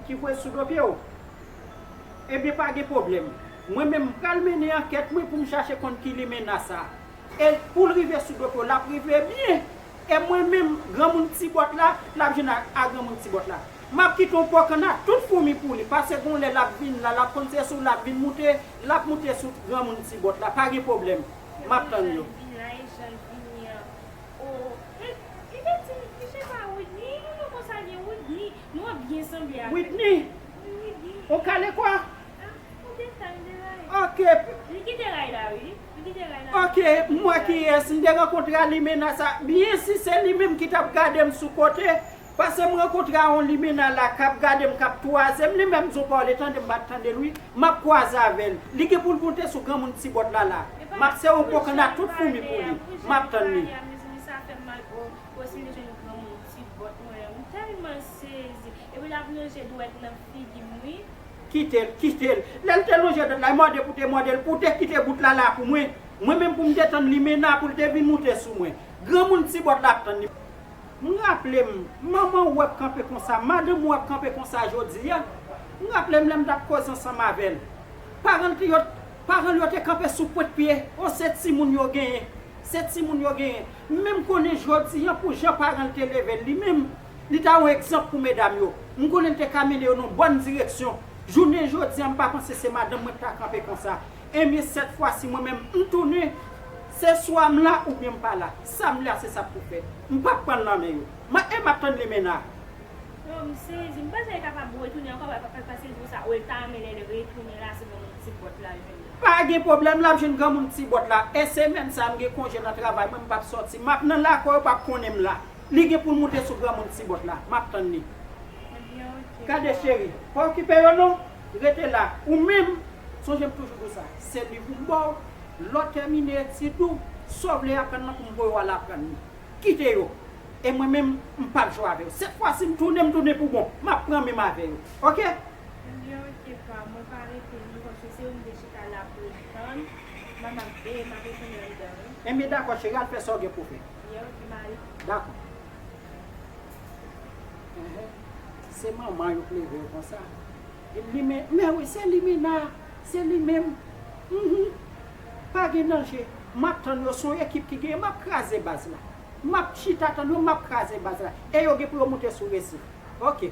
Ki kwè sou do pye w? Ebyen pa gen pwoblèm. Mwen menm m pral mennen ankèt mwen pou m chache konn ki limenna sa. E pou l rive sou do pye w, l ap rive byen. E mwen menm, granmoun ti bòt la, l ap jwenn a granmoun ti bòt la. M ap kite yon po kanna tout foumi pou li, pase gon lè l ap vin la, l ap konn se sou l ap vin moute, l ap moute sou granmoun ti bòt la. Pa gen pwoblèm. M ap tann yo. Yo menm jan l vin la e jan l vini an. O, men, li te di m, misye pa Woodny, e nou konn sa gen Woodny. Nou ap byen sanble avèl. Whitney. Wi Whitney. Ou kale kwa? Ah ou gen time de Ray. Ok. Li kite Ray la wi. Li kite Ray la. Ok m wè kiyès m te rankontre a limena sa byen si se li menm ki tap gadem sou kote pase m rankontre a on limena la kap gadem kap twazem li menm zo kòl e tande m pat tandel wi map kwaze avèl li gen poul moute sou granmoun ti bòt la la map se on kokenna tout foumi pou li map tann li. Fosili jwenn granmoun ti bòt mwen an m tèlman sezi epi lap lonje dwèt nan figim wi. Kitel kitel lèl te lonje dwèt la e mòde pou te mòdel ou te kite bout la la pou mwen mwen menm poum te tann limena poul te vin moute sou mwen granmoun ti bòt la ap tann li. M raplem manman ou ap kanpe konsa madanm ou ap kanpe konsa jodia m raplem lèm tap koze ansanm avèl paranl t yo paranl yo te kanpe sou pwent pye oh se timoun yo genyen se timoun yo genyen. M menm konnen jodi an pou jan paran l te leve l li menm, li ta yon egzanp pou medam yo. M konnen l te ka mennen yo nan yon bòn direksyon. Jounen jodi an m pa panse se madanm mwen k ta kanpe konsa. Enben sèt fwasi mwen menm m tounen, se swa m la oubyen m pa la. Sa m vle a se sa k pou fèt. M pap pran l nan men yo. M ap e m ap tann lemena a. Yo m sezi. M panse l kapab retounen ankò paske l di w sa. Ou l ta renmen lè l retounen la se nan yon ti bòt l al jwenn Pa gen pwoblèm lap jwenn granmoun ti bòt la e semèn sa m gen konje nan travay mwen m pap sòti map nan lakò yo pap konnen m la li gen poul moute sou granmoun ti bòt la map tann li gade cheri pa okipe yo non rete la ou menm sonje m toujou di w sa se liv pou m ba w lè w tèmine etid ou sa w vle aprann lan pou m voye w al aprann li kite yo e mwen menm m pap jwe avè yo sèt fwa si m tounen m tounen pou bon map pran menm avè yo ok. Senyòrite pa mwen pa rete non paske se ou m te chita la pou m tann la m ap veye m ap retounen anndan wi. Enben dakò cheri al fè sa w gen pou w fè. Ye ok m ale. Dakò. Ehe se manman yo k leve yo konsa. Vin limen men wi se limena se li menm Humm pa gen danje m ap tann yo son ekip ki genyen m ap kraze baz la m ap chita tann yo m ap kraze baz la e yo gen pou yo moute sou resif ok.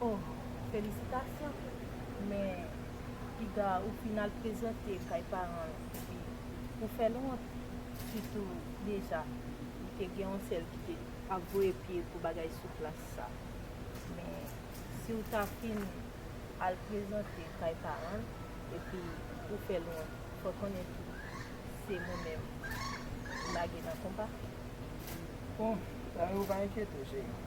Bon felisitasyon men piga ou fin al prezante kay paranl epi ou fèl wont sitou deja li te gen yon sèl ki te ap voye pye pou bagay sou plas sa men siw ta fin al prezante kay paranl epi ou fèl wont fè konnen tou se mwen menm ou lage nan konpa. Bon sa yo pa enkyetew cheri.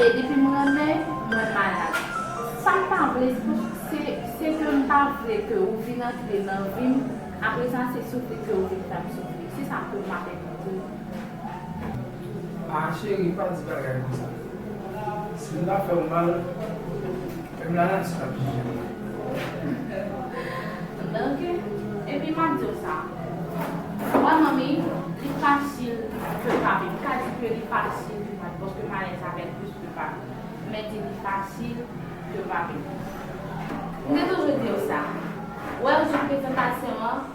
E depi m renmen, mwen malad. Sa m pa vle pou, se, se ke m pa vle ke ou vin antre nan vi m, apre sa se soufri ke ou vin fè m soufri. Se sa tou m ap evite ou. A cheri, pa di bagay konsa. Si m ta fè ou mal. Menm lala di sa tou se vre. Danke epi map diw sa Mwen manmi li fasil ke pa vin pa di ke li fasil ke pa vin paske m alèz avèl plis ke pa vin men di li fasil ke pa vin. M te toujou diw sa. Wèw sou prezantasyon an.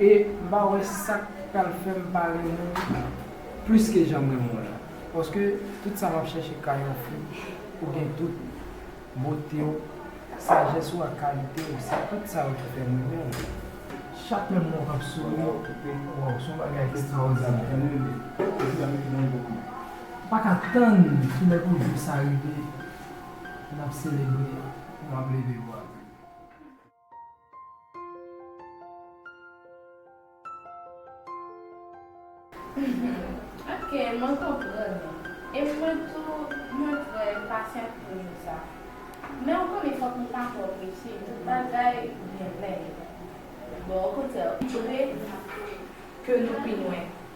E m pa wè sak pral fèm pa renmen w plis ke janm renmen w la. Paske tout sa map chèche ka yon fi ou gen tout, bote w, sajès ou ak kalite w se tout sa yo ki fèm renmen w. Chak menm lè w ap souri wap toupe m waw son bagay ekstraòdinè. M paka tann ki lè pou jou sa rive nap selebre pou map leve bwa m. Humm ok mwen konprann nou e mwen tou mwen trè enpasyant pou jou sa men ou konnen fòk nou pa twò prese tout bagay gen lè yo bon okontrè ou dwe ke nou pi lwen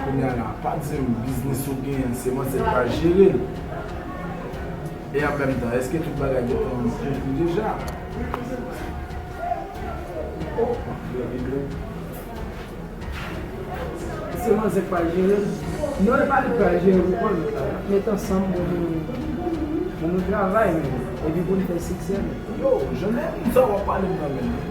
Kounya la pa dim biznis ou gen an se manzè ki pral jere l e an menm tan eske tout bagay gentan konklu deja oh map fè video se manzè ki pral jere l non e pa li ki pral jere l ou konn nap met ansanm pou nou travay menm epi pou nou fè siksè menm. Yo, Jeune, m sa wap pale m nan menm.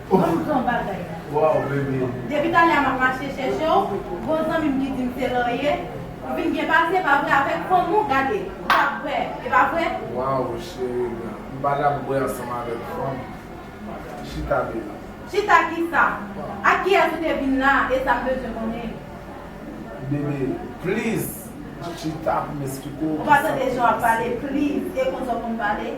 Bon jan bagay la. Depi talè a map mache chèche w, gon zanmi m ki di m se Laurier, ou vin byen pase pa vre avèk fanm ou, gade, ou pap kwè, e pa vre? Waw cheri m nan, m pa janm bwè ansanm avèk fanm, chita baby. Chita kisa? Ak kiyès ou te vin la a, e sa m bezwen konnen? Baby, please chita pou m esplike w. Ou pa tande jan wap pale, please, e konsa w konn pale?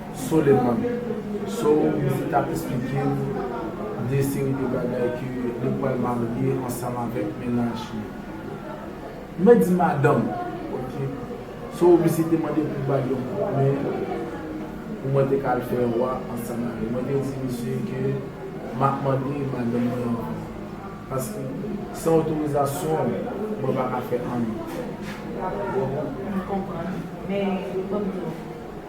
Soleman, so ou di tap esplike m de seri de bagay ke li pwal marye ansanm avèk mennaj li. Mwen di madanm ok, so ou misye te mande pou bal yon kout men pou mwen te ka al fè rwa ansanm avè l. Mwen te di misye ke map mande madanm mwen ankò. Paske san otorizasyon ou mwen pa ka fè anyen. Ou konprann. Men li pranm dlo.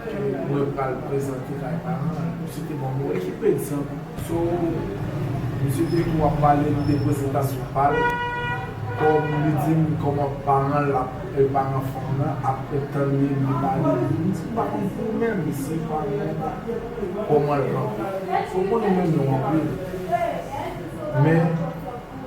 ke mwen pral prezante kay paran l. Misye te banm yon ekip egzanp. So, misye te tou ap pale m de prezantasyon pa l, kòm li di m kòman paran l ap, paran fanm lan ap tann li li pale. M di m pa konn pou menm si paran l la kòman l kanpe. Fòk mwen renmen nou anpil. Men,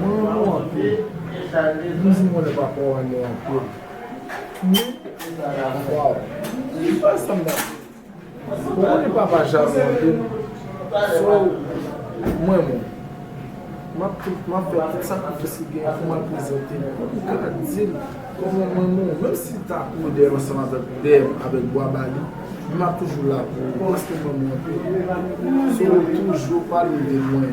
Mwen renmen w anpil. Mizik mwen pa kwè w renmen l anpil. Wi. Waw. Li pa sanble ak li. Ou konnen papa jalou anpil. So, mwen menm, m ap fè tout sakrifis ki genyen pou m al prezante l. Pou m ka di l kòman m renmen w. Menm si l ta kouri dèyè m ansanm avèk pè m, avèk Bwa Bali, men m ap toujou la pou ou. Paske m renmen w anpil. So, toujou pale de mwen.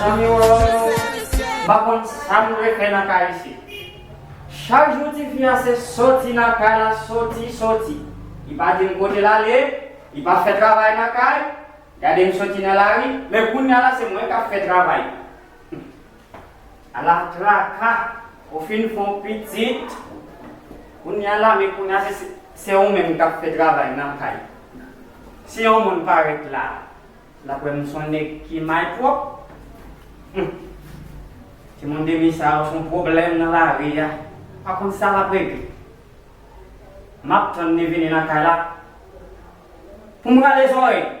Zanmi woyy m pa konn sam dwe fè nan kay isit chak jou tifi a se soti nan kay la soti soti li pa dim kote lale li pa fè travay nan kay gadem soti nan lari men kounya la se mwen kap fè travay. Ala traka ou fin fon pitit kounya la men kounya se se ou menm kap fè travay nan kay si yon moun parèt la lap wè m son nèg ki may twòp humm timoun demi sa yo son pwoblèm nan lari a pa konn sa lap regle map tann li vini nan kay la poum rale zòrèy.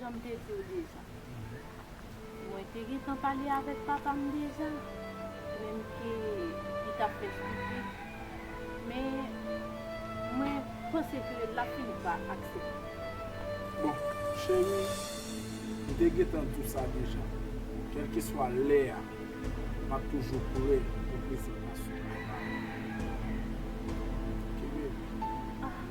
Jan m te di w deja, mwen te gentan pale avèk papa m deja, menm ke li t ap fè stipid, men mwen panse ke l ap fini pa aksepte. Bon, cheri, m te gentan di w sa deja, kèlkeswa lè a, m ap toujou pre pou prezantasyon papa m. Kenbe l. Ah!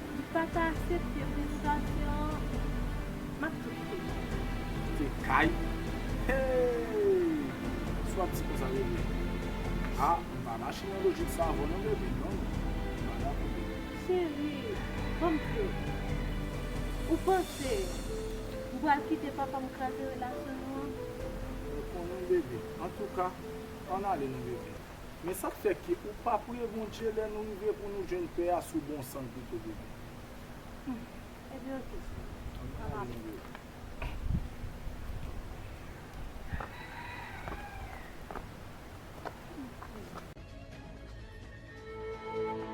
Li pa ta asepte prezitasyon an map tou kite nou. Kite kay heeyy sou ap di konsa rele a m pa mache nan lojik sa avèw non baby non non m pa dakò baby. Cheri banm fé ou panse m pral kite papam kraze relasyon nou an. Mwen konnen baby antouka ann ale non baby. Men sa k fè ke ou pa priye Bondye lè nou rive pou nou jwenn pè a sou bon san ki te devan. Humm Ebyen ok Senyè An mache.